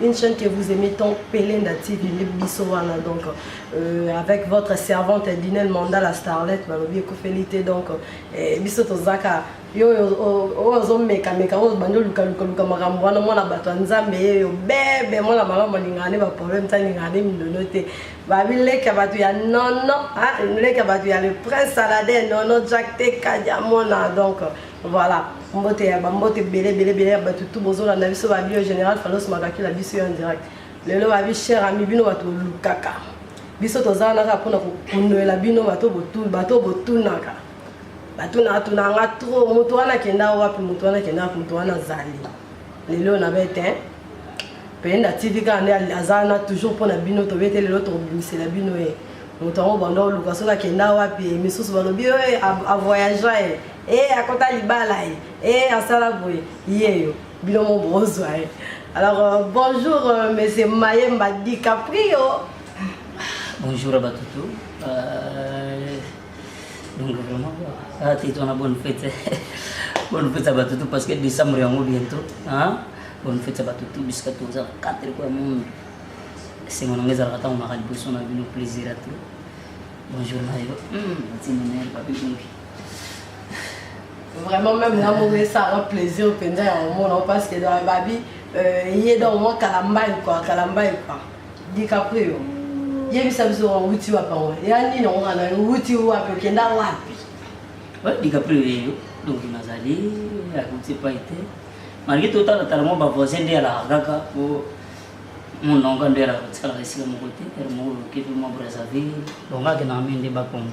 une chaîne que vous aimez tant, Pelenda TV, Bissowana, donc euh, avec votre servante Dinel Manda, la starlette, Malobi Kofelite, donc euh, Bisso Tozaka, yo ozomeka meka oyo obandi oluka luka luka makambo wana mwana bato ya nzambe ye yo bebe mwana malamu alingaka nde baproblème te alingaka nde mindono te babi leki ya bato ya nono leki ya bato ya le prince salade nono jack te kadiamona donc Voilà, mbote ya bambote ebele ebele ebele ya bato tu bozolanda biso babi oyo général falos makakila biso yo en direct lelo babi cher ami bino bato bolukaka biso toza wana kaka mpona kokundolela bino bato botunaka batunatuna nga trop moto wana akenda wapi moto wana akenda wapi moto wana azali lelo na bete penda tv kaka nde aza wana toujours mpona bino tobete lelo tokobimisela bino ye moto yango banda oluka soki akenda wapi misusu balobi oyo avoyagea ye eh akota libala ye eh asala boye yeyo bino mo bozwa ye alors euh, bonjour euh, monsieur mayemba dicaprio bonjour à batutu euh, donc vraiment ah, tito na bonne fête bonne fête à batutu parce que décembre yango bientôt hein? bonne fête à batutu bisika toza 4 kwa monde esengo nango ezalaka ntango maka liboso na bino plaisir à tout bonjour nayo mm. tinenel papi bongi vraiment même nga moko esala plaisir mpenza ya komona parce que dans babi euh, ye donc mwa kalambai kua kalambai kua dicaprio yebisa biso owuti wapi yango ya nini yango kana owuti wapi okenda wapi dicaprio yeyo donc nazali akuti epai te malgre totalatala mwa bavoisin nde alaka kaka po mononga nde alaka kotikalaka esika moko te ere moko loke mpe mwa brazzaville donc akenaka mpe nde bakongo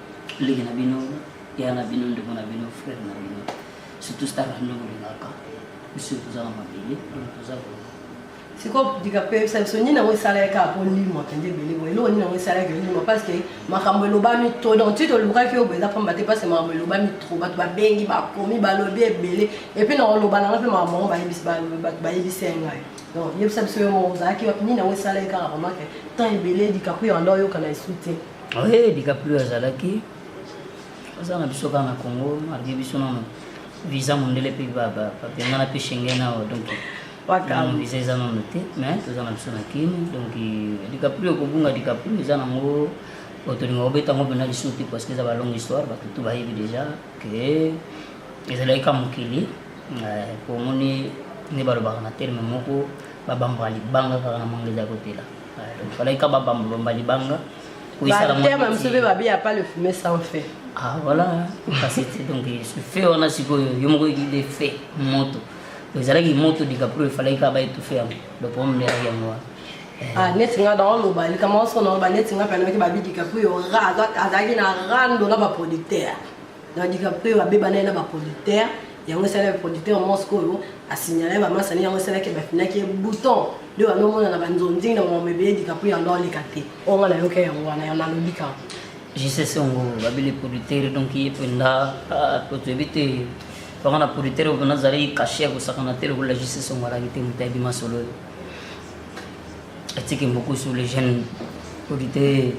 leki na bino ya na bino ndeko na bino frere na bino surtout star na bino kolingaka biso toza na mabele toza sikoyo dika mpe yebisa biso nini yango esalaki kaka mpo ndimo akende ebele boye eloko nini yango esalaki ndimo parce que makambo elobami trop donc ti tolukaki oyo boeza mpamba te parce que makambo elobami trop bato babengi bakomi balobi ebele epuis na koloba nanga mpe makambo yango bato bayebisi ye ngai donc yebisa biso yo moko ozalaki wapi nini yango esalaki kaka vraiment ke temps ebele dikaku yanda oyokana esu te Oye DiCaprio azalaki aza na biso kaka na Congo, alaki biso nano visa mondele mpe bapengana mpe Schengen awa donc nano visa eza nano te, mais toza na biso na Kin donc DiCaprio kobunga DiCaprio eza nango otolinga kobeta yango mpenza lisusu te parce que eza balongue histoire bato tu bayebi déjà ke ezalaki ka mokili po omoni nde balobaka na terme moko babambaka libanga kaka na mangeza ya kotela Falaki kaba bambo bamba libanga. Bateya ba miso mpe babe ya pas le fumer sans fait. Ah voilà, kasi te donc ce fait wana sikoyo yo moko ekide fait moto. Ezalaki moto DiCaprio efalaki kaba etufe yango. Donc po mmeraki yango wana. Ah, neti nga dans loba likambo oso na loba neti nga mpe nayaki babi DiCaprio azalaki na rando na baproducteur Donc DiCaprio abeba naye na ba producteurs yango esalaki producteur mosque oyo asignala ye bamasani yango esalaki bafinaki ye bouton nde wana omona na banzonzing na mama ebele dikapu yango aoleka te oyo nga nayoka yango wana yango nalobi kaka jisese yango babele producteur donc ye mpenza po toyebi te bango na producteur oyo mpena azali kashe ya kosakana te lokola jisese yango alaki te moto ayebi masolo oyo atiki mbokusu le jeune producteur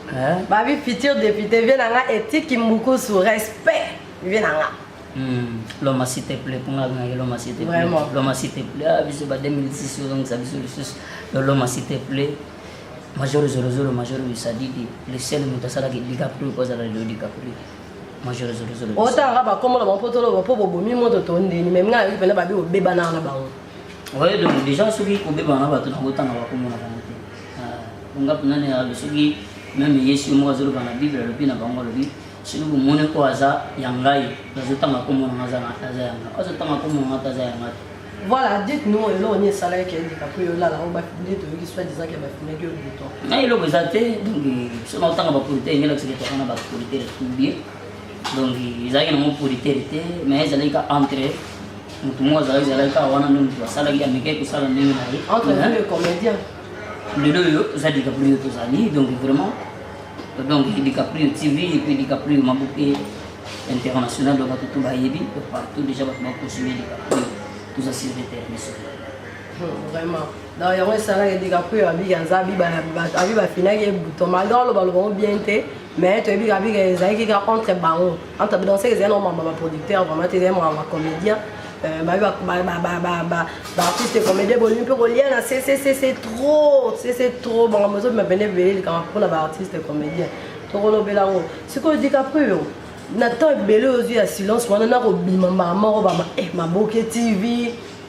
Hein? Babi futur député vie na nga etiki mbukusu respect vie na nga. Hmm. Loma s'il te plaît pour nga ngaki loma s'il te plaît. Vraiment. Loma s'il te plaît. Ah biso ba 2006 yo ngisa biso lisusu. Loma s'il te plaît. Major zolo zolo major bisadidi. Le seul mutu asalaki DiCaprio ko azala le DiCaprio. Major zolo zolo. Otanga ba komona ba poto lo po bobomi moto to ndeni mais nga yoki pena babi obeba na na bango. Ouais donc déjà soki obeba na bato na kotanga ba komona bango. ngaku nani alobi soki meme yesu ye moko azoloba na bible alobi na bango alobi soki bomoni oyo aza ya ngai nazotanga komona nga aza ya nga azotanga komona nga te aza ya nga te voilà dites nous eloko nini esalaki ke ndika mpo yolala oyo nde toyoki soi disant ke bafimaki yo bouton na eloko eza te donc biso na otanga bapolite engelakisaka tokana bapolite ya tubie donc ezalaki nango politere te mais ezalaki ka entre motu moko azalaki ezalaki kaka wana nde motu asalaki amikaki kosala ndenge na ye lelo oyo oza dicaprio tozali donc vraiment donc dicaprio tv epe dicaprio maboke international donc bato to bayebi partout déjà bato bakosime dicaprio toza sur le terrain Vraiment. Donc yango esalaka ete kakuya abika aza abi bafinaki ye buto malgré aloba lobango bien te mais toyebi kabika ezalaki kaka entre bango entre donc seke ezali nomamba baproducteur vraiment te ezali mwana bacomédien baartiste comédien bolingi mpe kolia na ccc trop cc trop bango mozobima pene ebele likama mpona baartiste comédien tokolobela yango sikoyo dicaprio na temps ebele ozwi ya silence wana nakobima mbala moko bama eh, maboke tv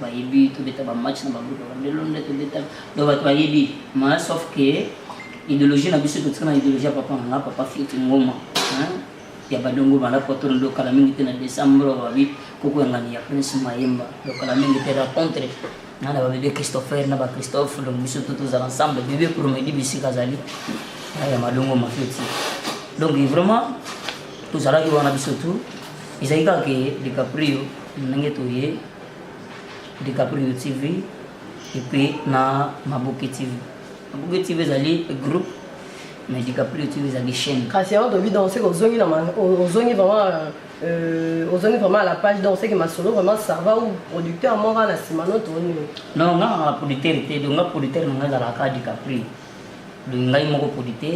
bayebi tobeta bamatch na bagroupe bandelo nde tobeta donc bato bayebi ma sauf que idéologie na biso totika na idéologie ya papa nanga papa fioti ngoma ya badongo bala potolo ndo kala mingi te na décembre babi kokoyangani ya prince mayemba donc kala mingi te rencontre na na babebe christopher na bachristophe donc biso to tozala ensemble bebe promedi bisika azali ya madongo mafioti donc vraiment tozalaki wana biso tu ezalaki kaka ke dicaprio ndenge toye dicaprio tv epuis na maboke tv maboke tv ezali groupe mais dicaprio tv ezali chaîne kasi yango toyebi donc seke ozongi na ozongi vraiment euh, ozongi vraiment à la page donc seke masolo vraiment sava ou producteur moko na nsima no tooni non nga na producteur te donc nga producteur na nga ezalaka dicaprio donc ngai moko produit te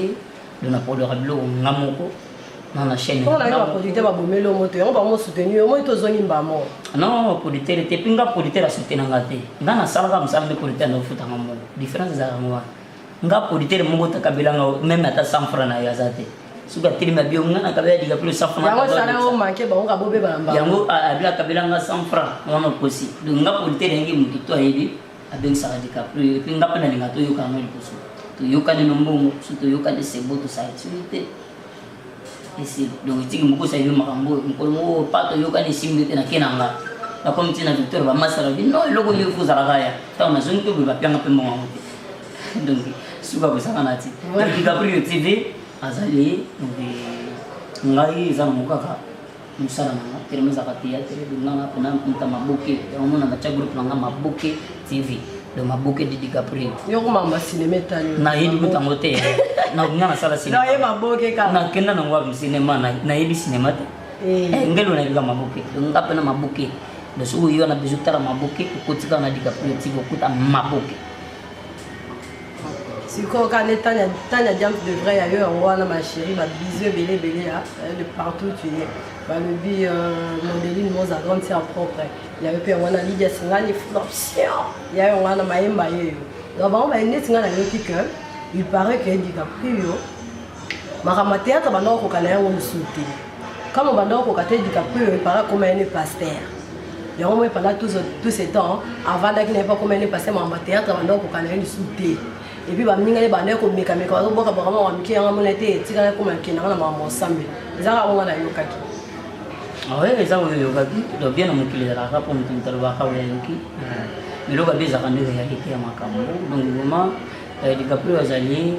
donc naproduaka biloko nga moko na na chaîne mpo nayo baproduit te babomeli yo moto yango bango soutenir yo moi tozongi mbamo non producteur te mpe nga producteur asutena nga te nga nasalaka mosala nde producteur naofutanga moko différence ezalaka ngo wana nga producteur moko takabelanga meme ata 100 franc na yo aza te soki atelemi abi yo nga nakabela dika mpe losa franyango abila akabelanga 100 franc wana okosi donc nga producteur yangi moto to ayebi abengisaka DiCaprio ye mpe nga mpe nalinga toyoka yango liboso toyokani no mbongo so toyokani sebo tosaitini te esi donc etiki mokosi ayebi makambo oyo mokolo moko oh, pa toyokani esimbi te nake na nga nakomi ntina victoire bamasala bi no eloko nini fo ozalaka ya ntango nazongi mpe boye bapianga mpe mbongo yango te donc suka kosaka na ti DiCaprio tv azali donc ngai eza na mokaka mosala na nga telema ezalaka theatre donc nga nga pena mputa maboke yango mona natya groupe na nga maboke tv donc maboke de dicaprio yo komamba cinema etali nayebi kutango te nga nasala cinema ye maboke kaka nakenda nango wapi cinema nayebi cinema te Eh. Eh, ngelo na yebika maboke nga mpe na maboke donc soki oyo wana bezo tala maboke okotika na dikaprio tika okuta maboke sikoyo kande tanya tanya diamp de vrai ya yo yango wana ma chérie ba bisous ebele ebele ya de partout tu es balobi modeline moza grande sœur propre ya yo mpe yango wana lidia singani floption ya yango wana mayemba yeyo donc bango baye neti ngai nayoki que il paraît que edika prio makambo ya théâtre banda kokoka na yango mosusu te kama banda kokoka te dika peu epara koma ye ne pasteur yango moi pendant tout ce temps avandaki na ye mpo akoma ye ne pasteur makambo ya théâtre banda kokoka na ye lisusu te epuis baninga ye banda ye komekameka bazobwaka bakama makambo mike yango amona te etikala ekoma ekendaka na makambo osambeli eza kaka bonga nayokaki awe ah eza oyo eyokaki donc bien na mokili ezalaka mpo moto moto alobaka oyo ayoki eloko abe ezalaka nde réalité ya makambo donc vraiment euh, dicaprio azali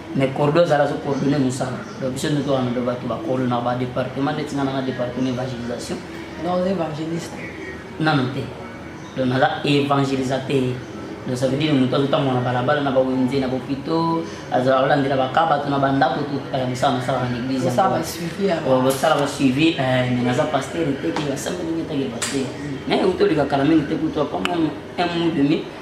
mais cordo ezala azo coordonne mosala donc biso nde tokana do bato bakolo na badepartement ndeti nga nanga departement évangélisation donc oza évangéliste nano te donc naza évangélisateur donc ça veut dire moto azotambola na balabala na bawenze na bopito azala kolandela baka bato na bandako tokala mosala nasalaka na église bosala basuivi mais naza pasteur te ke basambeli ngetake pasteur mais utolika kala mingi te kutu apamwa un mois demi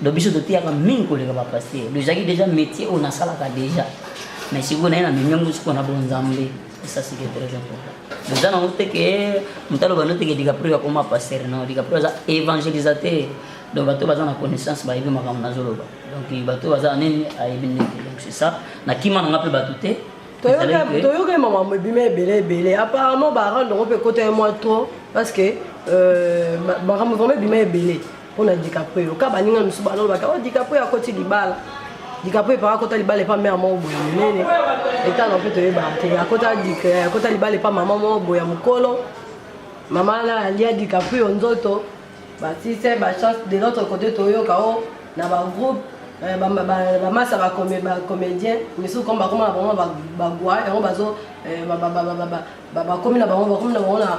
donc biso toteyaka mingi koleka bapaster ezalaki déjà métier oyo nasalaka déjà mais sikoyo naye na memi yango sikoyo na bonzambe esa sike très important oza nango te ke moto aloba no te ke dicaprio akoma paster no dicaprio aza évangélisateur donc bato baza na connaissance bayebi makambo nazoloba donc bato baza nini ayebi ndenge donc c'est ça na kima na nga mpe bato te toyoka makambo ebima ebele ebele apparemment barande yango mpe ekota ye mwa trop parce que euh, makambo vraiment ebima ebele mpo na dicaprio ka baninga mosusu balobaka o dicaprio akoti libala dikapo epa akota libala epa mare moko boye monene etanga mpe toyebaka te akota libala epa mama moko boye ya mokolo mama wana alia dikapo yo nzoto batise bachance de notre côté toyoka o oh, na bagroupe eh, bamasa bacomédien misusu comme bakoma na bango bagwa yango bazo eh, bakomi na bango bakomi na bango na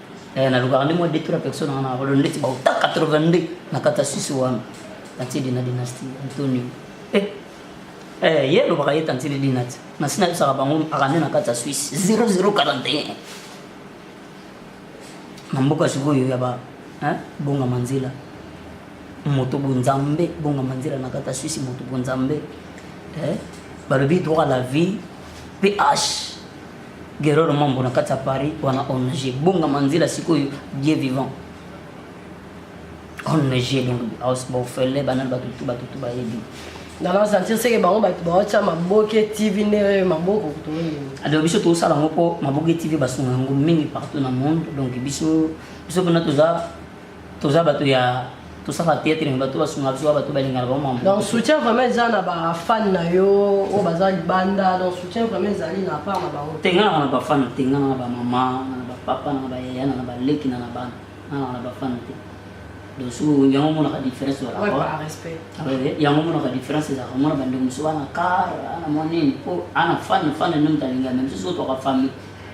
Eh, nalukaka nde mwa detro ya personne wana nakolo ndeti bauta 82 na kata sisi wana tantidi na dynastie antonio eh, eh, ye alobaka ye tantidi dinati nasi nayebisaka bango akande na kati ya swisse 0041 na mboka sikoyo ya ba eh, bonga manzela moto bonzambe bonga manzela na kati ya swisse moto bonzambe eh, balobi droit la vie ph Guerrero Mambo na kati ya Paris wana ONG bonga manzila sikoyo Dieu vivant ONG donc house bofele bana bato tout bato tout bayebi na na sentir seke bango bato baotya maboke tv nde maboko toyini alors biso tosala yango mpo maboke tv basunga yango mingi partout na monde donc biso biso mpena toza toza bato ya tosaka theatre me bato basunga biso bato balingaka bango mambo donc soutien vraiment eza na bafane na yo oyo baza libanda donc soutien vraiment ezali na part na bango tengana na bafane tengana na bamama na bapapa na bayaya na baleki na na bana na bafane te donc soki yango omonaka différence yango omonaka différence ezalaka omona bandeko mosusu bana kar ana mwa nini mpo ana fane fane nde moto alingaka me mosusu oyo toka famille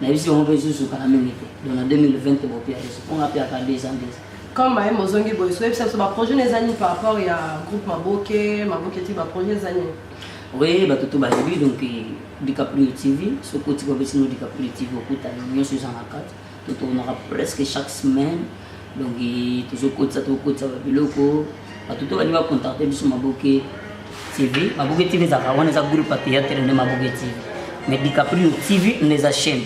na yebisi bango mpe ezozokaka mingi te donc na 2020 bopia ezo mpo nga mpe aka deux ans deux comme mayembe ozongi boye soyebisa biso baprojet na eza nini par rapport ya groupe maboke maboke ti baprojet eza nini oui bato to bayebi donc eh, dicaprio tv soki otika obesino dicaprio tv okutana nyonso eza na kati totournaka presque chaque semaine donc tozokotisa tokokotisa babiloko bato to balingi bacontacte biso maboke tv maboke tv ezalaka wana eza groupe ya théâtre nde maboke tv mais dicaprio tv nde eza chaîne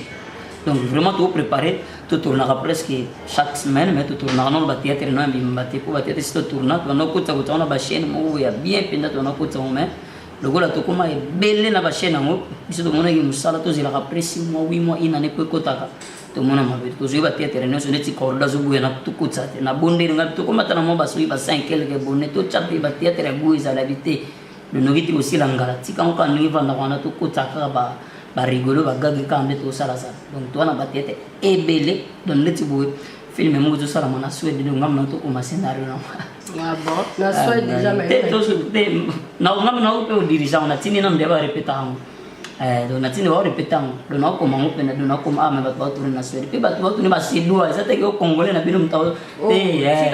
donc vraiment toprépare totournaka presque chaque semaine mais totournaka nano bathéâtre no ya mibimba te mpo bathéâtre si totourna tobanda kokotisa kotisa wana bachaîne moko ya bien mpenza tobanda kokotisa yango mais lokola tokoma ebele na bachaîne yango biso tomonaki mosala tozelaka presi mwa 8 mwa inane mpo ekotaka tomona mabe tozwi bapiatere nyonso neti cordo azobuya na tokotisa te nabondeli ngai tokomata na mwa basoki ba 5 quelque bone totya mpe bapiatere ya buya ezalaki te lonoki ti kosila ngala tika ngo kaka ndenge vandaka wana tokotisa kaka ba barigolo bagage kaka nde tosalasala donc towana bapiatere ebele donc neti boye filme moko ezosalama na swede donc ngambo na tokoma scenario na ngambo na yo mpe odirige yango natindi nano nde barepeta yango Eh, donc natindi bao repete yango donc nakokoma yango mpena donc nakoma ame bato baotuni na swede mpe bato baotuni basedwa eza teke o congolais na bino moto oh, te eh.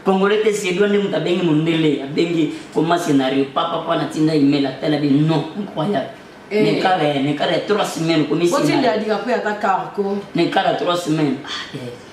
congolais te sedwa nde moto abengi mondele abengi koma scenario papapa natinda email atala bi non incroyable eh. nekala nekala ya trois semaine okomisinekala ya trois semaine ah,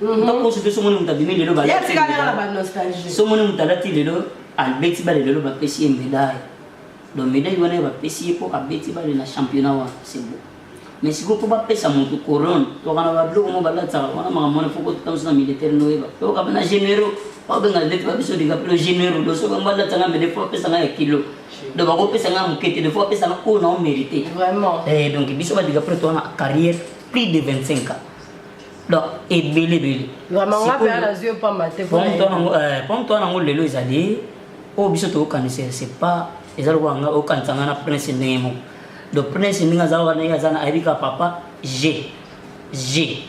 Mhm. ntango oso te somoni moto abimi lelo somoni moto alati lelo abeti bale lelo bapesi ye medaille donc medaille wana ye bapesi ye mpo abeti bale na championnat wana sebo mais sikoyo mpo bapesa moto corone toka na babiloko mo balatisaka wana makambo wana foko totamso na militaire noyeba toyoka na généraux babenga ndeti babiso likapelo généraux do soki balatanga me defo bapesanga ya kilo donc bakopesanga moke te defo bapesanga oyo nao mérité eh, donc biso badikapelo towana carrière plus de 25 ans donc ebele ebele pomme toi nango lelo ezali oyo biso tokokanisa c'est pas eza lokola nga okanisa nga na prince ndenge moko donc prince ndenge aza wana ye aza na ayebi kaka papa g g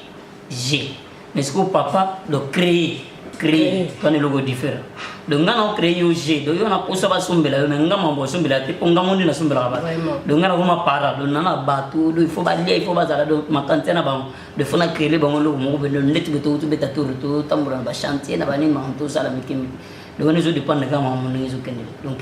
g mais sikoyo papa donc créer créer to ne logo different donc nga na créer yo jeu donc yo na posa ba sombela yo mais nga mambo sombela te po nga mondi na sombela ba donc nga na koma para donc na na bato donc il faut ba lia il faut ba zala donc ma tante na bango de faut na créer bango logo moko be donc ndeti be to to beta tour to tambura ba chantier na ba ni manto sala mikimi donc ne zo dépendre nga mambo ne zo kende donc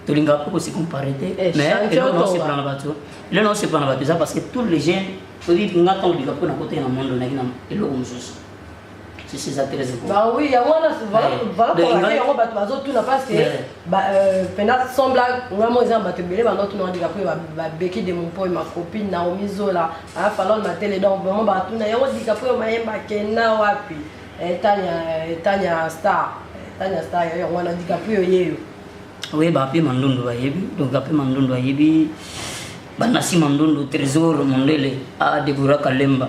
tolingaka mpe kosikompare te eh, mais eloko na osepela na bato eloko na osepela na bato eza parce que tous les jeunes toyebi nga ntango olika mpo na kotee na mondo naki na eloko mosusu si c'est ça très important bah oui yango wana voilà voilà pour laquelle yango bato bazotuna parce que euh, pena sembla ngai mo eza na bato ebele bandotuna ondika mpo babeki de mompoi ma copine naomi zola afalone matele donc vraiment batuna yango dika mpo mayemba kenda wapi eh, tanya eh, tanya star eh, tanya star yo yango wana dika mpo oyeyo oyeba mpe mandondo bayebi donc ape mandondo ayebi banasi mandondo trésor mondele a debora kalemba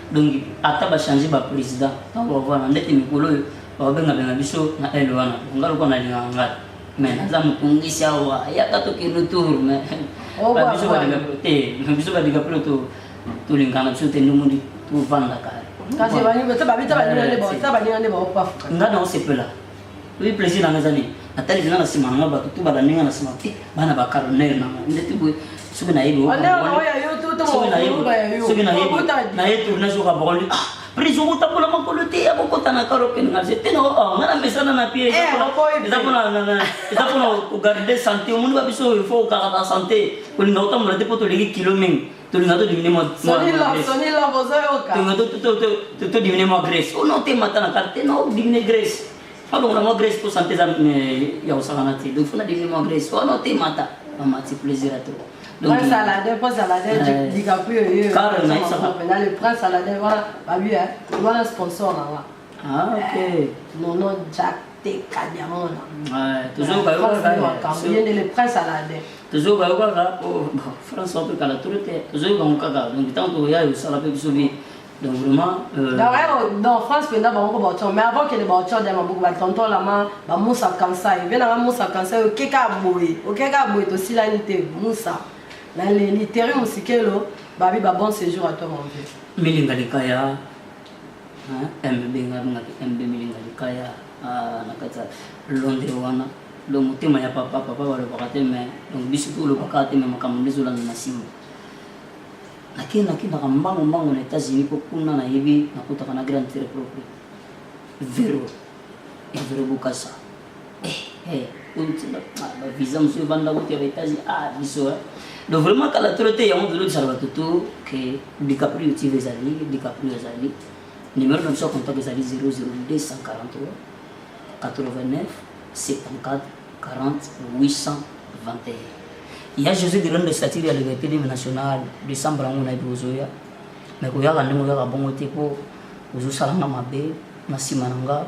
donc ata ba changer ba president tango bavana ndeti mikolo oyo bakobengabenga biso na ele wana nga lokola nalingaka ngai mais naza motungisi awa yaka tokende tour mais oh, biso balinga te biso balinga mpe to tolingana biso te ndomundi tovandaka nga na osepela Oui, plaisir na ngazani. Atali zina na sima na ba tutu ba ninga na sima ti bana ba colonel na mo. Ndeti boy soki na yebi. Wala na ya yo to to mo na yebi. Soki na yebi. Na yebi na zo ka boli. Ah, prise ko tapola makolo te ya ko kota na karo pe na zete no. Oh, ngana mesana na pie. Eza pona na na. Eza pona ko garder santé. Omundi ba biso il faut ka ba santé. Ko linga otambola te poto leki kilo mingi. tolinga todimine todimine mwa grace ono te mata na karte te no dimine grace alongola mwa grace mpo sante eza ya kosangana te donc fona dimine mwa grace ono te mata mamati plaisir a trop donc salade po salade dikapu yo yo le prince salade wana babi wana sponsor na wana Ah, ok. Eh, Nono Jack Teka Diamona. Ouais, toujours bayo kaka. Ye nde le prince Aladdin. Toujours bayo kaka. Oh, France on peut kala tout le temps. Toujours bango kaka. Donc tant que ya yo sala pe biso bi. Donc vraiment euh Donc ouais, dans France penda bango ko baocho, mais avant que les baocho de mabuku ba tonton la ma ba Moussa Kansa, il vient Moussa Kansa yo keka boye. O keka boye to silani te Moussa. Na le littéraire musikelo, babi ba bon séjour à toi mon vieux. Milinga likaya. Hein? MB nga bengaki MB milinga likaya ah, na kati ya londre wana donc motema ya papa papa balobaka te mais donc biso mpe olobaka te mais makambo nde ezolanda na nsima nake nakendaka mbango mbango na états-unis mpo kuna nayebi nakutaka na grande tere propre vero ya vero bokasa visa mosusu evanda kutu ya baetats-unis ah biso donc vraiment kala tolo te yango tolobisaka bato to ke dicaprio tv ezali dicaprio ezali numéro na biso ya contact ezali 00243 89 74 40 821 ya josé de londres statire ya liberté deme nationale décembre yango na yebi ozoya me koyaka ndenge oyaka bongo te mpo ozosalanga mabe na nsima na nga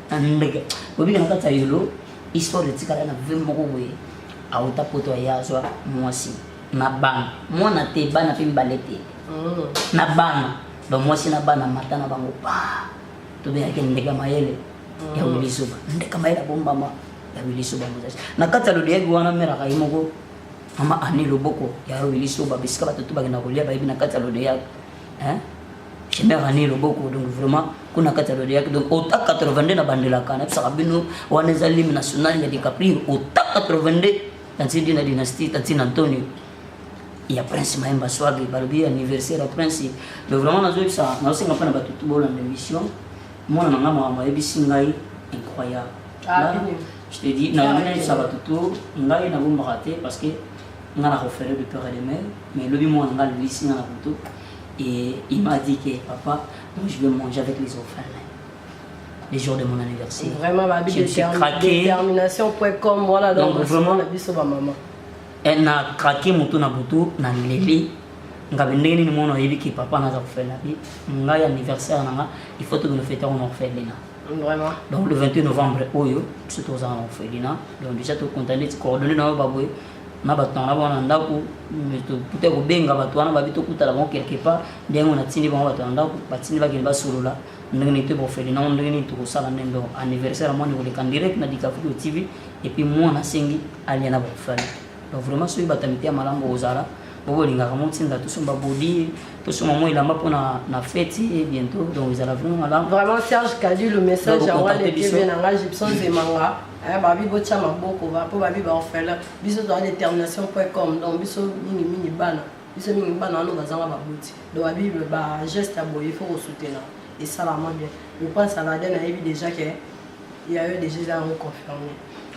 Mbeke. Bobina na kati ya yolo, histoire etikala na vie moko boye. Auta poto ya azwa mwasi. Na bana. Mwana te, bana pe mibale te. Mm. Na bana. Ba mwasi na bana mata na bango pa. Tobengaki ndeke ya mayele. Mm. Ya Willy Suba. Ndeke mayele abombama ya Willy Suba Moses. Na kati ya lodeyaki wana mère akayi moko. Mama Annie Loboko ya Willy Suba bisika bato tu bakenda kolia bayebi na kati ya lodeyaki. hein Chimère ani loboko donc vraiment kuna kati ya lodeyaki donc ota 82 na bandelaka nayebisaka bino wana eza lime national ya dicaprio ota 82 tanti dina dynastie tanti na antonio ya prince mayemba swagi balobi anniversaire ya prince mais vraiment nazoyebisa nazosenga mpo na bato to bolanda émission mwana na ngai makambo ayebisi ngai incroyable je te dis nazoyebisa bato to ngai nabombaka te parce que nga na refere de peur et de mère mais lobi mwana nga alulisi nga na butu et il m'a dit que papa moi je vais manger avec les orphelins les jours de mon anniversaire vraiment ma je suis craqué détermination point com voilà donc, donc vraiment la biso ba maman elle n'a craqué moto na butu na leli nga be ndenge nini mwana oyebi ke papa naza kofela bi ngai anniversaire na nga il faut tokende fete yango na orphelina Vraiment. donc le 28 novembre oyo biso tozala na orphelina donc déjà tokonta neti coordonne na yo baboye na bato na bango na ndako tokuta kobenga bato wana babi tokutana bango quelque part nde yango natindi bango bato na ndako batindi bakende basolola ndenge nini to bofeli nango ndenge nini tokosala nde ndo anniversaire ya mwana ekoleka direct na dikafudo tv epuis mwana asengi alia na bafali donc vraiment soki bato ya mite ya malamu bokozala bokolingaka motinda tosomba bodi tosomba mwa elamba mpo na feti ye eh, bientôt donc ezala vraiment malamu vraiment serge kadi le message yango alekebe na ngai gibson zemanga Eh, babi botya maboko mpo babi baorphelin biso toza détermination point com donc biso mingi mingi bana biso mingi bana wana bazanga baboti donc babi bageste ya boye ifo kosutena esalama bien le prince saladin nayebi déjà ke ya yo déjà eza yango confirme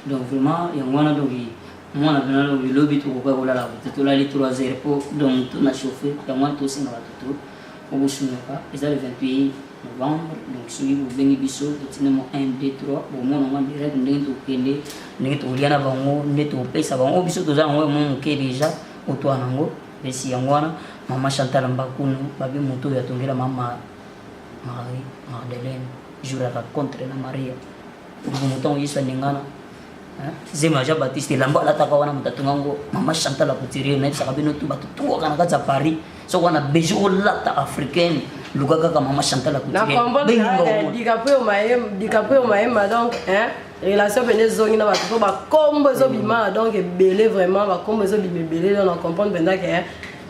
donc vraiment yango wana donc mwana mpena lobi lobi tokoka kolala bote tolali 3 heures mpo donc tona chauffe yango wana tosenga bato to Bokosundoka eza le 28 novembre donc soki bobengi biso totina mo 1 2 3 bomona ngo direct ndenge tokende ndenge tokolia na bango nde topesa bango biso toza yango mo moke deja otwa nango esi yango wana mama chantal mbakunu babi moto oyo atongela mama marie magdalene jour ya rencontre na maria moto motango yesu aningana zemi ya jean baptiste elamba alataka wana moto atonga yango mama chantal acouturie nayebisaka bino tu bato tungaka na kati ya paris soko wana bejo olata africaine luka kaka mama chantal acouturieadikapoyo mayema donc relation mpena ezongi na bato mpo bakombo ezobima mm. donc ebele vraiment bakombo ezobima ebele donc na comprendre mpenza ke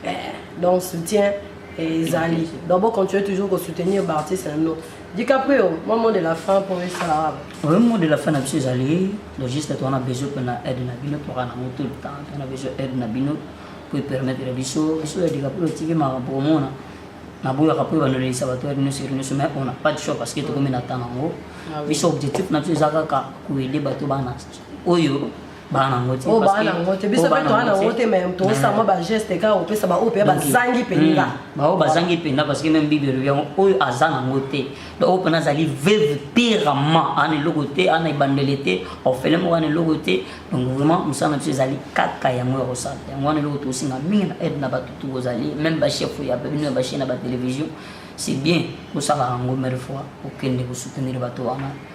eh, donc soutien ezali donc bocontinue toujours kosoutenir baartiste na bino DiCaprio, moi mot de la fin pour les salariés. Oui, mot de la fin, monsieur Zali, le juste on a besoin qu'on a aide Nabino pour un tout le temps, on a besoin d'aide Nabino pour permettre les bisous, bisous les DiCaprio, tu veux ma pour moi, na boya kapo ba noleli sa bato nous sur nous mais on n'a pas de choix parce que tout comme na tanango, bisous objectif na tu zaka ka kuele bato bana. Oyo bana yango te oh, bana yango te biso oh, mpe toa na yango te mai toosa mwa bageste kaka kopesa baoyo mpe bazangi mpenza hmm. baoyo bazangi mpenza parce que meme bible elobi yango oyo aza na yango te donc oyo mpena azali veuve pirement ana eloko te ana ebandele te orphelin moko ana eloko te donc vraiment mosala na biso ezali kaka yango ya kosala yango wana eloko tokosenga mingi na aide na bato tokozali meme bachef ya bino ya bachaine ya batelevizio c'est bien kosala yango mare fois okende kosoutenir bato wana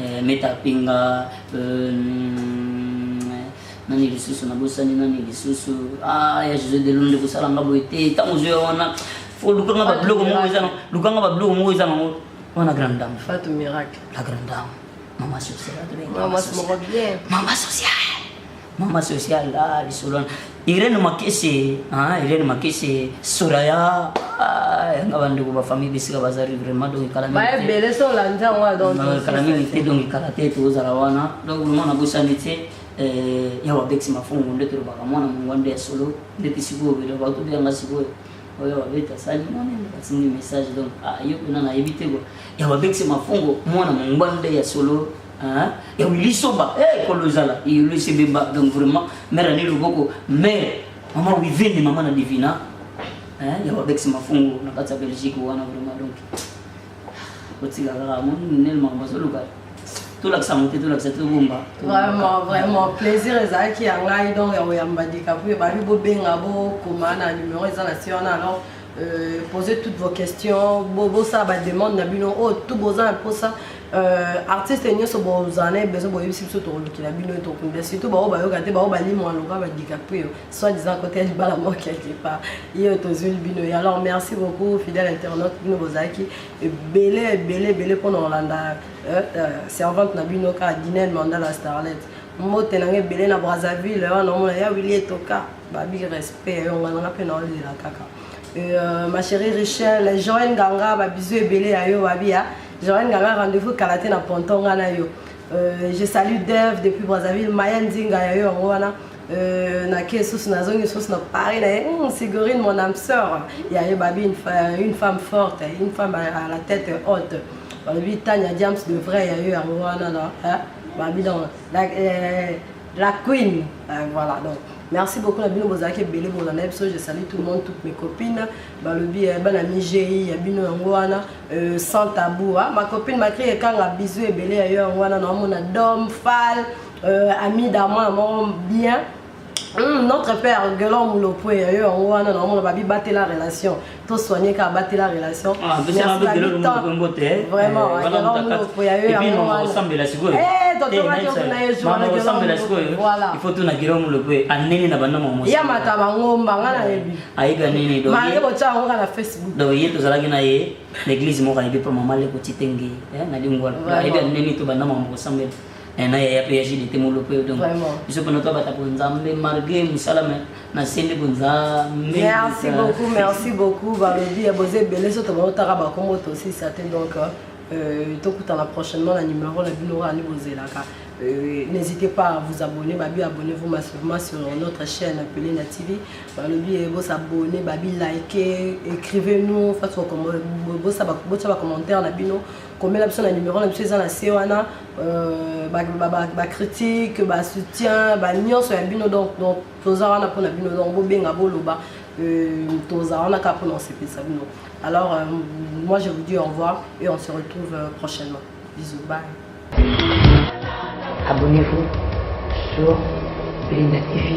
eh, meta pinga euh, nani lisusu nabosani nani lisusu ah, ya jose delo nde kosala nga boye te ntango ozwi ya wana fo lukanga babiloko moko eza nango lukanga babiloko moko eza nango wana grande dame fatu miracle la grande dame mama sociale mama sociale Mama social ah lisolo Irene Makese ah Irene Makese Soraya ah nga bandeko ba famille bisika bazali vraiment donc kala ba belle so la nzango donc kala mingi te donc kala te to zala wana donc vraiment na bosani te eh ya wa bexi mafungu nde to baka mwana mungu nde ya solo nde tisiko bele ba to bia ngasiko oyo babeta asali mwana atindi message donc ayo kuna nayebi te ko ya babekisi mafungo mwana mongba nde ya solo Hein? ya wili soba eh, kolo ezala iyolo esebemba donc vraiment mare ane loboko mare mama wivene mama na divina hein? ya babex mafungu na kati ya belgique wana vraiment donc otika kaka moni nel makambo azoluka tolakisa yango te tolakisa tobomba vraiment vraiment plaisir ezalaki ya ngai donc ya koyamba dikapu ebandi bobenga bokoma na numero eza na se wana alors Euh, poser toutes vos questions bosala bademande na bino oyo oh, tu boza na mposa euh, artiste nyonso bozala na ye besoin boyebisi biso tokolukela bino ye tokunda surtout baoyo bayoka te baoyo balimwa loka badicaprio soit disant kote ya libala moko quelque part ye oyo tozwili bino ye alors merci beaucoup fidèle internaute bino bozalaki ebele ebele ebele mpo na kolanda euh, servante na bino kaka dinel mandala starlet mbote na nga ebele na brazzaville wana omona ya wili etoka Babi respect yo ngana pe na olela kaka. Euh, ma chérie Richel, Joël Ganga, ba bisous ebele à yo babi ya. Joël Ganga rendez-vous kala te na ponton ngana yo. Euh, je salue Dev depuis Brazzaville, Maya Nzinga ya yo yango wana. Euh, na ke sous na zongi sous na Paris na hum, Sigurine mon âme sœur. Il y a babi une, une femme forte, une femme à la tête haute. Babi Tanya James de vrai ya yo yango wana na. Hein? Babi dans la, euh, La Queen. Euh, voilà, donc merci beaucoup na bino bozalaki ebele bolanda na biso je salue tout le monde toutes mes copines balobi eh, bana migei ya bino yango wana euh, sans tabou hein. ma copine makri ekanga bizu ebele ya yo yango wana naomona dom fal euh, ami d'amoi yango bien Hum, notre père Gelon Moulopoué, yo yango wana naomona babi batela relation to soigner ka batela relation ah, vraiment osambela sikoyoifo tuna giro moloko anene na banda ya mata bangomba nga nayebi ayebi anene doyekotyaka na facebook donc ye tozalaki na ye na église moko ayebi mpo mama leko titenge eh, na lingwala ayebi anene to banda mama kosambela Eh, na yaya mpe ya jidite molope yo donc biso mpena tobata mpo nzambe malgré mosala me nasembi mpo nzambe merci beaucoup merci beaucoup balobi ya boza ebele so tobaotaka bakongo tosisa te donc euh, tokutana prochainement na numero na bino rani bozelaka Euh, n'hésitez pas à vous abonner babi abonnez-vous massivement sur notre chaîne appelée na tv balobi eh, bos abonner babi liker écrivez nous face bosa bacommentaire na bino komela biso na numero na biso eza na se wana Euh, ba, ba, ba, ba critique ba soutien ba nyonso ya bino donc donc toza wana mpona bino donc bobenga boloba euh, toza wana kaka mpona osepelisa bino alors euh, moi je vous dis au revoir et on se retrouve euh, prochainement bisous bye abonnez-vous sur Linda TV